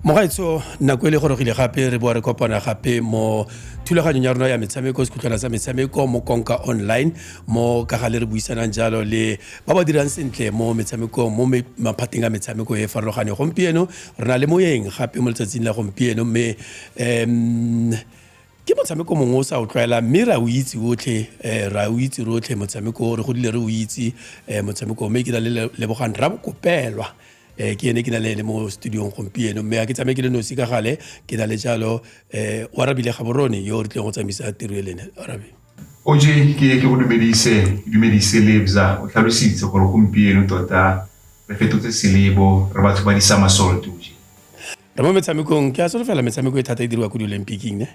mogaetso nako e le gorogile gape re boa re kopana gape mo thulaganyong ya rona ya metshameko sekhutlwana sa metshameko mo konka online mo ka ga le re buisanang jalo le ba ba dirang sentle mo metshamekong mo maphateng a metshameko e e farologaneng gompieno re na le moyeng gape mo letsatsing la gompieno mme um Ke motshameko mongwe o sa o tlwaela mme ra o itse otlhe um ra o itse rotlhe motshameko o re godile re o itse um motshameko mme ke na le lebogang ra bokopelwa um ke ene ke na le ene mo studiong gompieno mme ga ke tsamaye ke le nosi ka gale ke na le jalo um oarabile gaborone yo re tlileng go tsamaisa tiro e lene arabe oj ke ke go dumedise ke dumedise lebza o tlhalositse gore gompieno tota re fetotse selebo re batho ba di summersault oj re mo metshamekong ke a solofela metshameko e thata e diriwa ko di-olympicing ne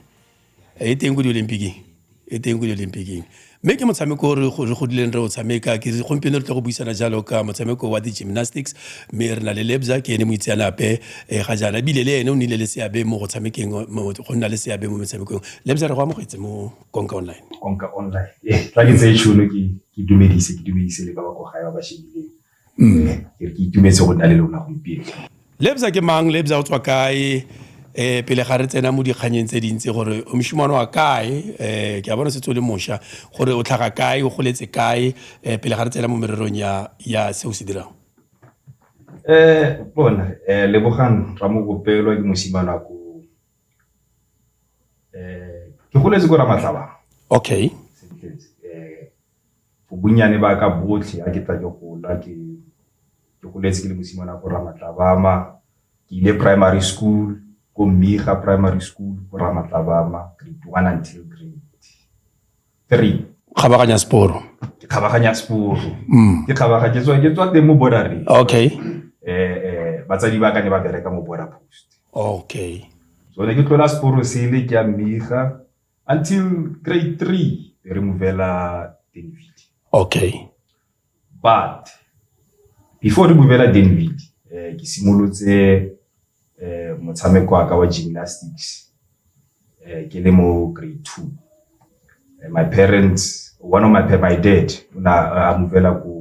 e teng ko di-olympicing e teng ko di-olympicing mme ke motshameko o re godileng re o tshameka ke gompieno re tle go buisana jalo ka motshameko wa di-gymnastics mme re na le lebza ke ene moitseanape um ga jaana ebile le ene o nnile le seabe mo go tshamekeng go nna le seabe mo metshamekong lebza re go amogetse mo konka online konka online tla ke tseye tšhono ke dumedise ke dumedise le ba ba ko gae ba ba shebileng Mme, ke re ke itumetse go nna le lona gompieno. Lebza ke mang? Lebza o tswa kae? Eh pele ga re tsena mo dikganyeng tse dintsi gore o moshimane wa kae? Eh ke a bona setse o le mosha gore o tlhaga kae, o goletse kae? Eh pele ga re tsena mo mererong ya ya se o se dirang. Eh bona eh Lebogang Ramogopelo ke mosimane wa ko eh ke goletse ko Ramatlaba. Okay. Sentletse eh Bonnyane ba ka botlhe ha ke tla ke gola ke goletse ke le mosimane wa ko Ramatlabama. Ke ile primary school ko Mmiga Primary School ko Ramatlabama, grade one until grade three. Kgabaganya seporo. Ke kgabaganya seporo. Ke kgabaga ke tswa ke tswa teng mo Borareng. Okay. Batsadi ba ka ne ba bereka mo Border Post. Okay. So ne ke tlola seporo sele ke ya Mmiga. Until grade three, they remove Ella Denvidi. Okay. But before remove Ella Denvidi, eh, ke simolotse eh, motshameko wa ka wa gymnastics eh, ke le mo grade two. Eh, my parents, one of my parents, my dad, una uh, a movela ko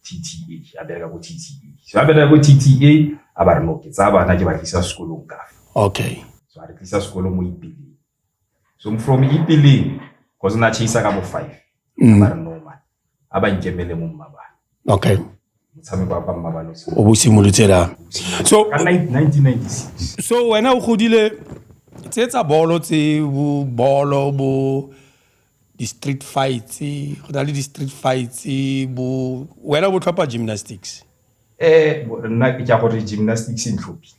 TTA, a bereka ko TTA. So a bereka ko TTA, a ba re no, ke tsaya bana ke ba tlisa sekolong ka. Okay. so a re tlisa sekolo mo ipileng so from ipileng cause na chase ka bo five mm. ba re no man a ba nkemele mo mmabana okay motshameko wa mmabana o bo simolotse la so ka 1996 so wena o godile tse tsa bolo tse bo bolo bo di-street fights go na le di-street fights bo wena bo tlhopha gymnastics eh nna ke ya gore gymnastics e ntlhophile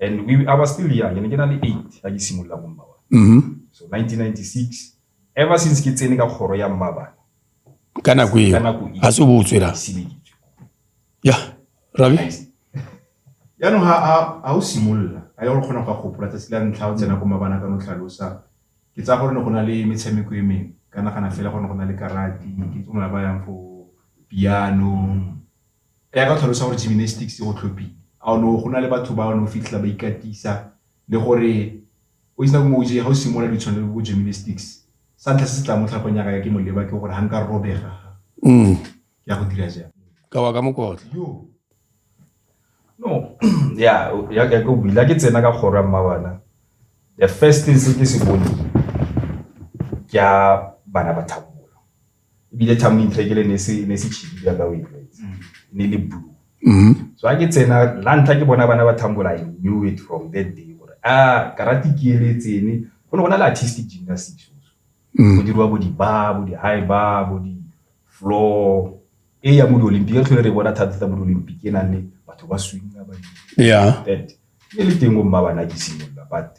and we I was still young and ke na le 8 ga ke simolola go mmaba mm-hmm. so 1996 ever since ke tsene ka kgoro ya mmaba ka nako eo ga se o bo o tswela ya rabi yaanong ga o simolola a ya gore kgona go ka gopola tsatsi la ntlha o tsena ko mabana ka no tlhalosa ke tsaya gore ne go na le metshameko e mengwe ka nagana fela go ne go na le karate ke tsona ba yang fo piano Ka ka tlhalosa gore gymnastics go tlhophile a no go na le batho ba no fitlhela ba ikatisa le gore o itse mo ga o simolola di tshwanelo go gymnastics sa ntlha se se tla mo tlhapong ya ka ke moleba ke gore ha nka robega mm. ya go dira jang ka wa ka mokotla no ya ya ka go bila ke tsena ka kgoro ya mmabana the first thing se ke se bone ke bana ba thabo ebile tlhamo intlhekele ne se ne se chili ya ka o itletse ne le blue mm-hmm. so a ke tsena la ntlha ke bona bana ba thambola i knew it from that day gore a ah, karate ke eletsene go ne go na le artistic gymnastics mm. go diriwa bo di-bar bo di-high bar bo di-floor e ya mo di-olympic re tlhole re bona thata-thata mo di-olympic e nang le batho ba swinga ba yeah. that e le teng o mma bana ke simolola but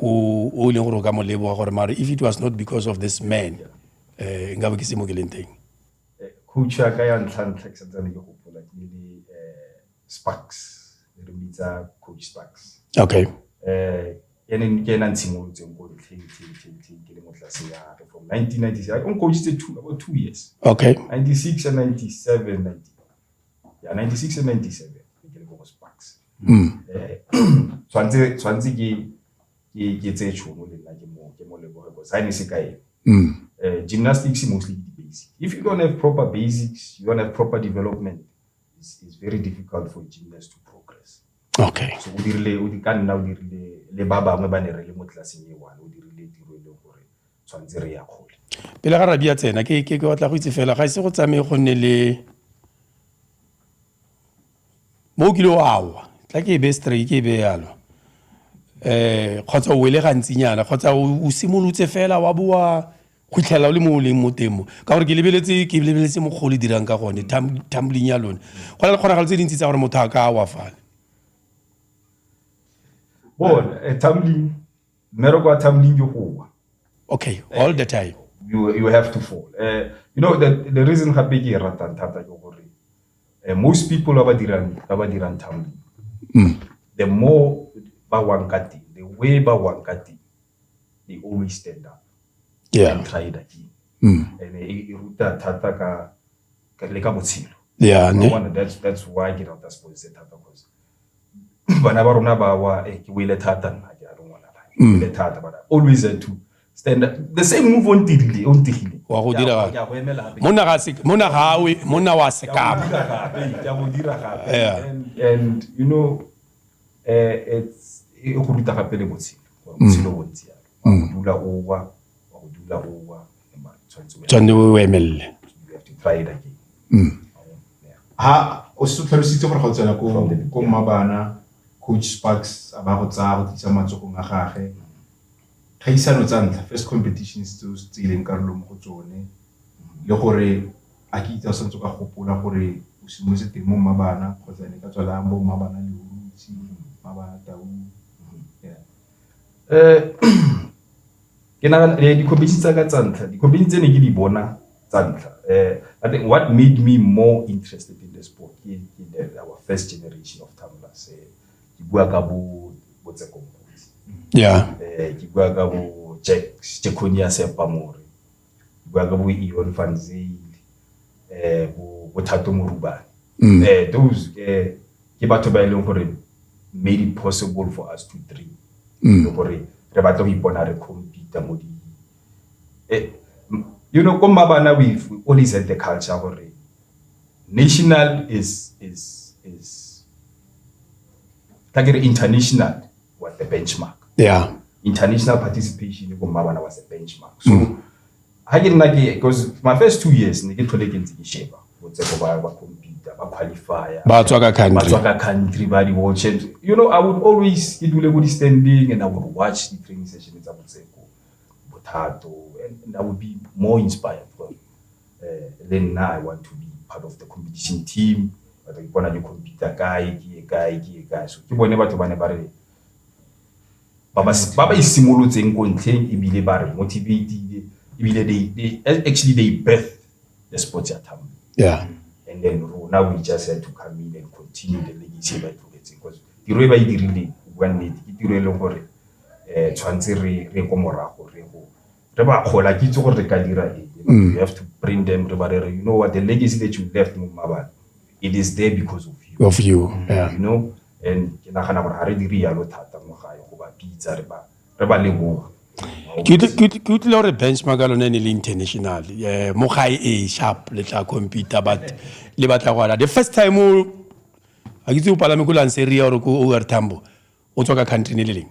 o e leng gore o ka mo leboga gore mare if it was not because of this man eh nka be ke se mo ke leng teng eh, coach ya ka ya ntlha ntlha ke santsane ke gopola ke le eh, sparks re bitsa coach sparks okay eh ene ke ena ntshimolotseng ko ntlheng ke le mo tlase ya re from 1996 o ncoachitse two about two years okay 96 and 97 90 ya 96 le 97 ke le ko go sparks mm. eh, tshwanetse tshwanetse ke ke ke tse tshono le nna ke mo ke mo leboge go sign se kae mm. eh, gymnastics mostly the basic if you don't have proper basics you don't have proper development it's, it's very difficult for gymnast to progress okay so o dirile o di ka nna o dirile le ba bangwe ba ne re le mo tlelaseng e one o dirile tiro e leng gore tshwanetse re ya kgole pele ga rabia tsena ke ke batla go itse fela ga ise go tsamaye go nne le mo o kile o awa tla ke e be stray ke e be yalo eh kgotsa o wele gantsinyana kgotsa o simolotse fela wa boa go itlhela o le mo o leng mo temo ka gore ke lebeletse ke lebeletse mokgolo e dirang ka gone tumbling ya lone go na le kgonagalo tse dintsi tsa gore motho a ka wa fale bona eh, tumbling Mmereko wa Thabuling ke go wa. Okay, all the time. You, you have to fall. Uh, you know, the, the reason gape ke e ratang thata ke gore uh, most people ba ba dirang ba ba dirang Thabuling. Mm. The more ba wang ka teng, the way ba wang ka teng, they always stand up. Yeah. And try it again. Mm. And e, e ruta thata ka le ka botshelo. Yeah, ne. That's that's why ke rata sports thata because bana ba rona ba wa eh, ke boile thata nna ke a rongwana mm. boile thata but always had to stand up the same move on tirile on tigile wa go dira ga go emela gape mona ga se mona ga we mona wa se ka ba ya go dira gape and and you know eh it's e go ruta gape le botshelo mm. botshelo bontsi ya mm. dula o wa tswanne o emelele mm. ha o se tlhalositse gore ga o tsena ko mmabana coach sparks a ba go tsaya go tlisa matsogong a gage kgaisano tsa ntlha first competitions tseo se tseileng karolo mo go tsone le gore a ke itse o santse ka gopola gore o simolotse teng mo mmabana kgotsa ne ka tswalang bo mmabana le urutsi mmabana tau um Ke nagana di-competition tsaka tsa ntlha, di-competition tse ne ke di bona tsa ntlha I think what made me more interested in the sport ke our first generation of tumblers ke bua ka bo bo tse kompotsi yeah ke bua ka bo Jack Jackonia Sepamore bua ka bo Ion van Zyl eh bo bo Thato Morubane mm. eh those ke ke batho ba e leng gore made it possible for us to dream mm. le gore re batla go ipona re compete mo di eh you know ko mabana we always had the culture gore national is is is like international was the benchmark yeah international participation ko mmabana was the benchmark so mm. ha ke nna ke because my first two years ne ke tlhole ke ntse ke sheba botse go ba ba computer ba qualifier ba tswa ka country ba tswa ka country ba di watch and you know i would always ke dule go di standing and i would watch the training session tsa botse go bothato and, and i would be more inspired from Eh, le nna i want to be part of the competition team batla ke bona ke computer kae ke ye kae ke ye kae so ke bone batho ba ne ba re ba ba isimolotseng ko ntlheng ebile ba re motivatile ebile they, they actually they birth the sports ya thamo yeah. and then rona we just had to come in and continue the legacy e ba itlogetseng because tiro e ba e dirileng bua nnete ke tiro e leng gore um tshwanetse re ko morago re go re ba kgola ke itse gore re ka dira eng mm. you have to bring them re ba re you know what the legacy that you left mo mmabane it is there because of you of you mm, yeah. you know and ke nagana gore ga re dire yalo thata mo gae go ba pitsa re ba re ba leboga ke utlwile gore benchmark ya lone ne le international eh, mo gae e sharp le tla computer but le batla go ala the first time ga ke tse o palame ko lanseria gore ko overtambo o tswa ka country ne le leng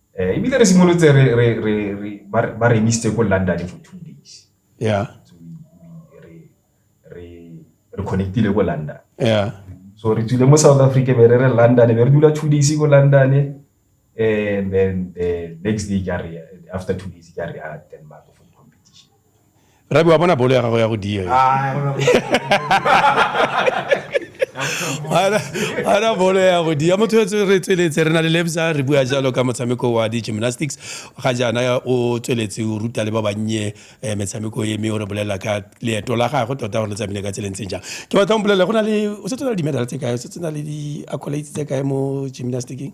Eh, ebile re simolotse ba re emisitse ko london for two days yeah so re re re connectile ko london yeah so re tsile mo south africa be re re london be re dula two days ko london and eh, then the next day ka re after two days ka re ya ah, denmark for competition rabi wa bona bolo ya gago ya go diega ana bolo ya go dia motho yo re tsweletse re na le lebza re bua jalo ka motshameko wa di-gymnastics ga jaana o tsweletse o ruta le ba bannye eh, metshameko e mme o re bolelela ka leeto la gagwe tota gore le tsamaile ka tseleng tseng jang ke batla o mpolelele go na le o setse na le di-medal tse kae o setse na le di-accolades tse kae mo gymnasticing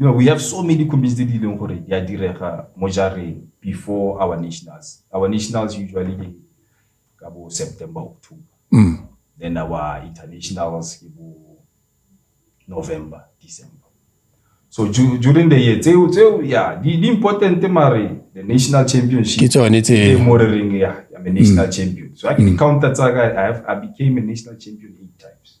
You know, we have so many comedies tse di leng gore di a direga mo jareng before our nationals. Our nationals usually ke ka bo September, October. Mm. Then our internationals ke bo November, December. So during the year, tseo tseo yeah, di di important mare the national championship. Ke tsone tse. Ke mo re reng yeah, I'm a national mm. champion. So I can mm. counter tsa I have I became a national champion eight times.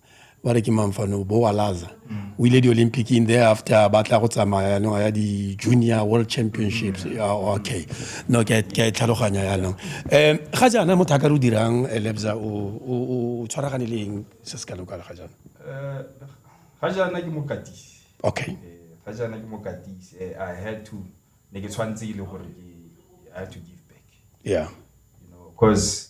ba re ke mamfano bo wa laza mm. o ile di-olympic in there after ba tla go tsamaya yanong ya di-junior world championships mm. ah, okay no ke a e tlhaloganya yanong um ga jaana motho a ka re o dirang eh, lebza o tshwaragane le eng se se kalo kala ga jaana eh, ga jaana ke mokatisi okay eh, ga jaana ke mokatisi i had to ne ke tshwanetse e le gore i had to give back yeah you know because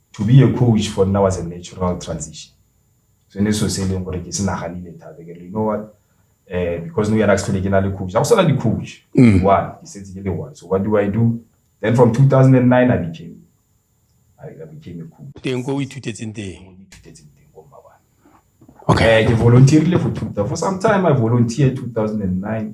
to be a coach for nna was a natural transition so ne so se e leng gore ke se naganile thata ke re you know what eh because no yana ke ke na le coach ga go sala di coach mm. one ke setse ke le one so what do i do then from 2009 i became i, I became a coach teng go ithutetseng teng ithutetseng teng go mabana okay eh, ke volunteerile for two for some time i volunteered 2009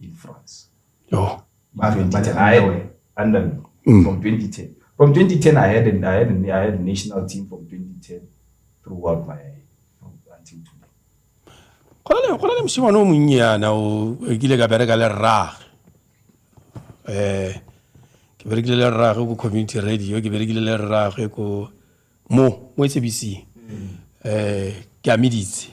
in France. Oh, but, but I had under me mm. from 2010. From 2010, I had, an, I, had an, I had a national team from 2010 throughout my until today. go na le mosimane o monnye yana o kile ka bereka le rrage um ke berekile le rrage ko community radio ke berekile le rrage ko mo mo e sebising um ke ameditse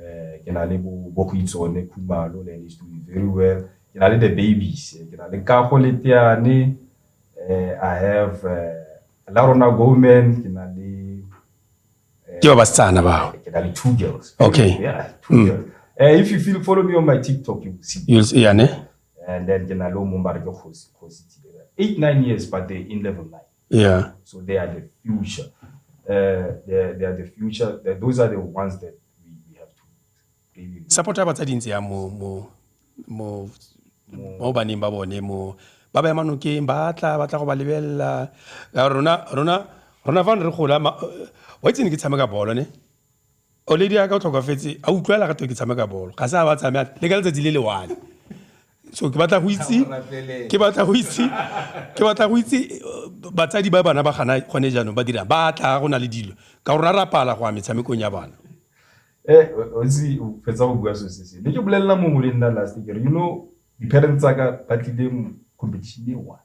eh, ke na le bogoitsone khumalo le ene to be very well ke na le the babies eh, ke na le kago le teane eh, i have eh, la rona gomen ke na le eh, ke ba basetsana bao ke na le two girls Okay. yeah, two Mm. girls Eh, if you feel follow me on my tiktok you will see You'll see, yane and then ke na le o mongwe ba re ke kgosi kgosi Thibela. eight nine years but they in level nine Yeah. So they are the future. Uh, they, are, they are the future. They, those are the ones that we, we have to really support ba tsa dintsi ya mo mo mo mo baneng ba bone mo ba ba manokeng ba tla ba tla go ba lebelela rona rona rona fa re gola wa itse ne ke tshameka bolo ne Oledi a ka o tlhokafetse a utlwela ga ke tshameka bolo ga se a ba tsamaya le ka letsatsi le le one so ke batla go itse ke batla go itse ke batla go itse uh, batsadi ba bana ba gana gone jaanong ba dirang ba tla go na le dilo ka gore ra pala go a metshamekong ya bana eh o se o fetsa go bua so se se ne ke bolelela mongwe le nna last year you know di-parents tsaka ba tlile competition e one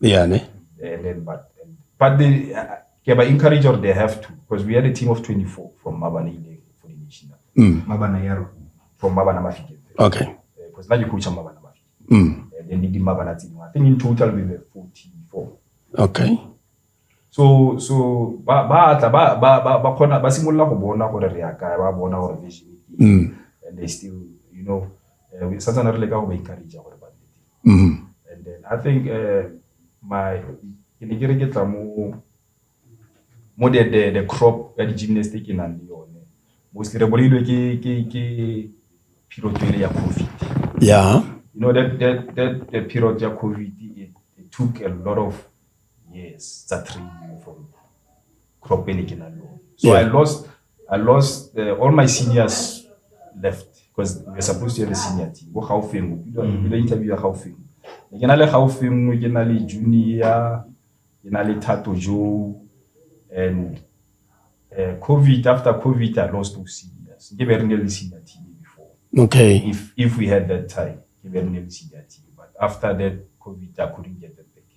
Yeah, ne? And then, but, and, but they, uh, yeah, but encourage or they have to, because we had a team of 24 from Mabana for the national. Mm. Mabana Yaro, from Mabana Mafike. Okay. Because uh, now you coach Mabana Mafike. Mm. And then they did Mabana team. I think in total we were 44. Okay. so so ba ba tla ba ba ba ba khona ba simolola go bona gore re ya kae ba bona gore vision mm. and they still you know uh, we santse re le ka go ba encourage gore mm-hmm. and then i think uh, my ke ne ke re ke tla mo mo the the the crop ya di gymnastic e nang le yone mostly re bolailwe ke ke ke phirotswele ya covid yeah you know that that that the period ya covid it, it took a lot of Yes, it's a training from crop pele ke na lo. So yeah. I lost I lost uh, all my seniors left because we were supposed to have a senior team. Go Gaufeng, we mm. interview Gaufeng. Ke na le Gaufeng, ke na le junior, ke na le Thato Joe and uh, COVID after COVID I lost two seniors. Ke be re ne le senior team before. Okay. If if we had that time, ke be re ne le senior team. But after that COVID I couldn't get them back.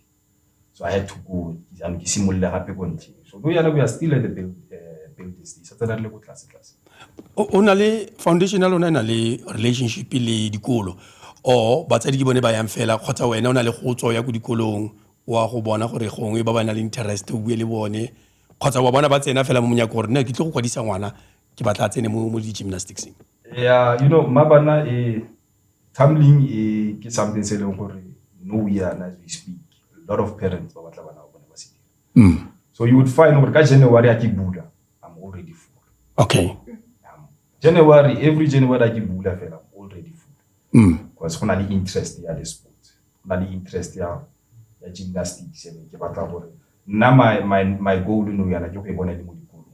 so I had to go jaanong ke simolole gape ko ntlheng so go yana we are still at the build, uh, build stage sa tsena re le ko tlase tlase o na le foundation ya lona e na le relationship le dikolo or batsadi ke bone ba yang fela kgotsa wena o na le go tswa ya ko dikolong wa go bona gore gongwe ba ba na le interest o bue le bone kgotsa wa bona ba tsena fela mo monyako gore nna ke tle go kwadisa ngwana ke batla a tsene mo di-gymnasticseng yeah you know mma bana e Tumbling e ke something se e leng gore nou yana as we speak, a lot of parents ba batla bana ba bone ba se dira. So you would find gore ka January ha ke bula, I'm already full. Okay. January, every January ha ke bula fela, I'm already full. Because go na le interest ya le sports. Go na le interest ya ya gymnastics, ene ke batla gore nna my my my goal nou yana ke go e bona e le mo dikolong.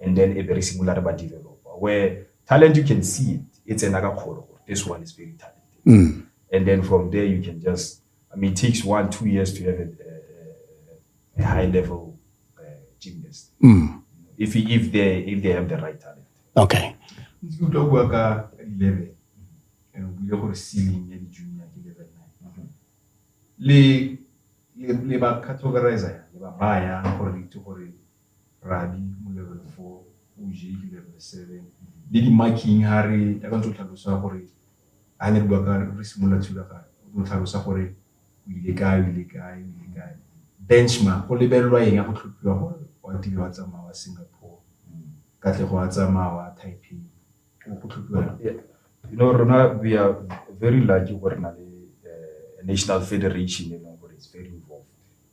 and then e be re simolola re ba developa where talent you can see it e tsena ka kgolo gore this one is very talented mm. and then from there you can just i mean it takes one two years to have a, a, a high level uh, gymnast mm. if if they if they have the right talent okay ntse utlwa bua ka ka di level and o buile gore ceiling ya di junior ke level 9 le le ba categorizer le ba baya gore itse gore Rabi mo level four, OJ ke level seven. Le di-marking ha re ya ka ntse o tlhalosa gore ha ne re bua ka re simolola thulaganyo o tlo tlhalosa gore o ile kae o ile kae o ile kae benchmark go lebelelwa eng ya go tlhophiwa gore wa tiro wa tsamaya wa singapore katlego wa tsamaya wa taipei go tlhophiwa you know rona we are very lucky gore na le eh, national federation e leng gore is very involved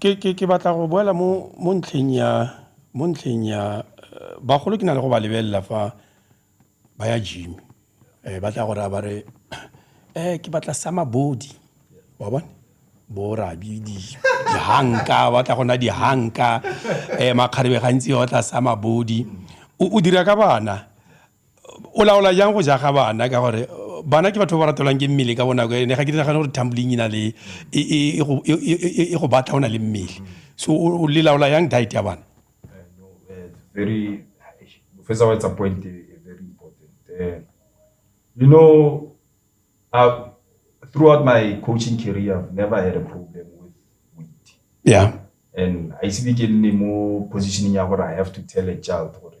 Ke batla go boela mo ntlheng ya bagolo ke na le go ba lebelela fa ba ya gym ba tla go raya ba re ke batla summer body wa bona bo rabi dihanka ba tla go naya dihanka makgarebe gantsi ba batla summer body o dira ka bana. o laola jang go jaga bana ka gore bana ke batho ba ba ratelwang ke mmele ka bonako ene ga ke dinagane gore tumbling ina le e, e, e, e, e go batla o na le mmele so o le laola yang diet ya bana very first of all it's a point very important uh, you know uh, throughout my coaching career i've never had a problem with weight yeah and i see ke nne mo positioning ya gore i have to tell a child gore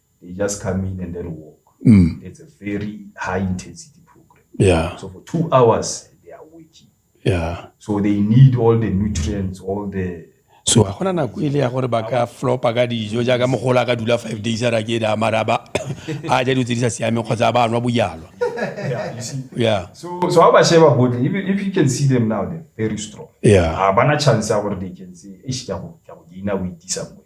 they just come in and then walk. Mm. It's a very high intensity program. Yeah. So for two hours, they are working. Yeah. So they need all the nutrients, all the so ga gona nako e le ya gore ba ka flopa ka dijo jaaka mogola ka dula five days a ra ke da mara ba a ja dilo tse di sa siameng kgotsa ba nwa bojalwa yeah, you see. Yeah. So, so how Basheba Bodle, if, if you can see them now, they're very strong. Yeah. Uh, bana chance our they can say, ish, kya ho, kya ho, ina witi somewhere.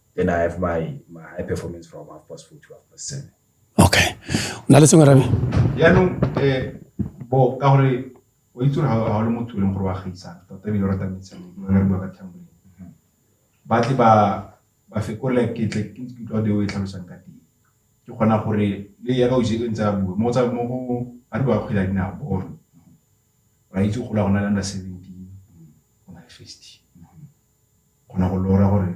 Then I have my, my high performance from half past four to half past seven. Okay. Na le sengwe rabi? Yaanong eh bo ka gore o itse gore ga o le motho e leng gore wa gaisana tota ebile o rata metshameko re bua ka tlhamboleng ba tle ba ba fekolela ke tle ke ntse ke utlwa deo e tlhalosang ka teng ke kgona gore le ya ka o jeke ntse a bua mo tsa mo go ba re ba kgwela dinao bone ra itse go la go na le under seventeen go na le fifty Kgona go lora gore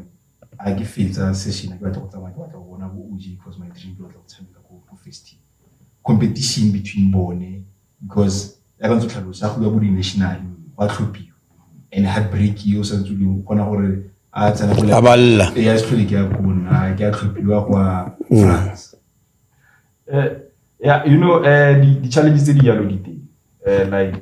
a ke fetsa session ke batla go tsamaya ke batla go bona bo OJ because my dream ke batla go tshameka ko ko festing competition between bone because ya ka ntse tlhalosa go ya bo di-national ba tlhophiwa and heartbreak yo sa ntse o kgona gore a tsena go A balla. ya se tlhole ke ya ko nna ke a tlhophiwa kwa France Eh, yeah, you know, eh, di- di-challenge tse di jalo di teng. Eh, like,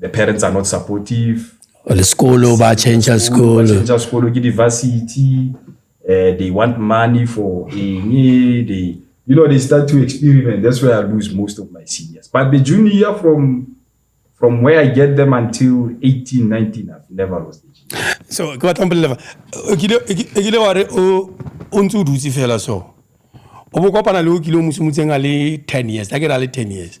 the parents are not supportive le sekolo ba change school change sekolo ke diversity uh, they want money for eng they you know they start to experiment that's where i lose most of my seniors but the junior year from from where i get them until 18 19 i've never lost the junior. so ke batla mpolelela e kile wa re o ntse o dutse fela so o bo kopana le o kile o mosomotseng a le 10 years a ke ra le 10 years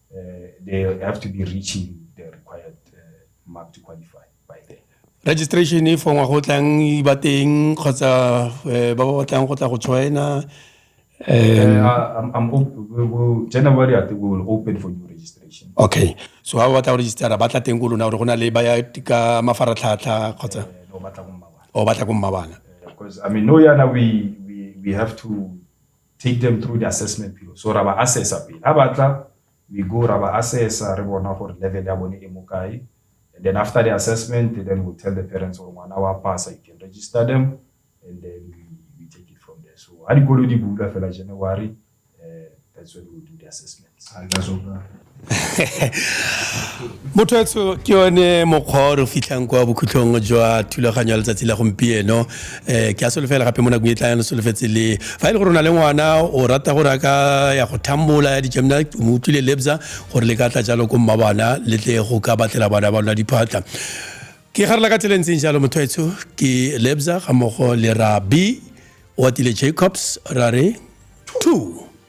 uh, they have to be reaching the required uh, mark to qualify by then. registration e fongwa go tlang e ba teng kgotsa eh, ba ba batlang go tla go joina eh, um, I'm, I'm January, I think we will open for new registration. Okay. So how about our register? Batla teng go lona gore go na le ba ya ka mafaratlhatlha kgotsa? Eh, no, batla go mmabana. O oh, batla go mmabana. Because I mean, no yana we we we have to take them through the assessment period so ra ba assessa pele ha batla we go ra ba assessa re bona gore level ya bone e mo kae and then after the assessment then we'll tell the parents gore ngwana wa pasa you can register them and then we, we take it from there so ha dikolo di bula fela january uh, that's when we'll do the assessment motho ke yone mokgwa o re fitlhang kwa bokhutlhong jwa thulaganyo ya letsatsi la gompieno um ke a solofela gape mo nakong e tlayang solofetse le fa e le gore o na le ngwana o rata gore a ka ya go thambola ya dijamna mo utlwile lebza gore le ka tla jalo ko mma bana le tle go ka batlela bana ba lona diphatla ke garela ka tsela e ntseng jalo motho etsho ke lebza ga mmogo le ra b o atile jacobs ra re two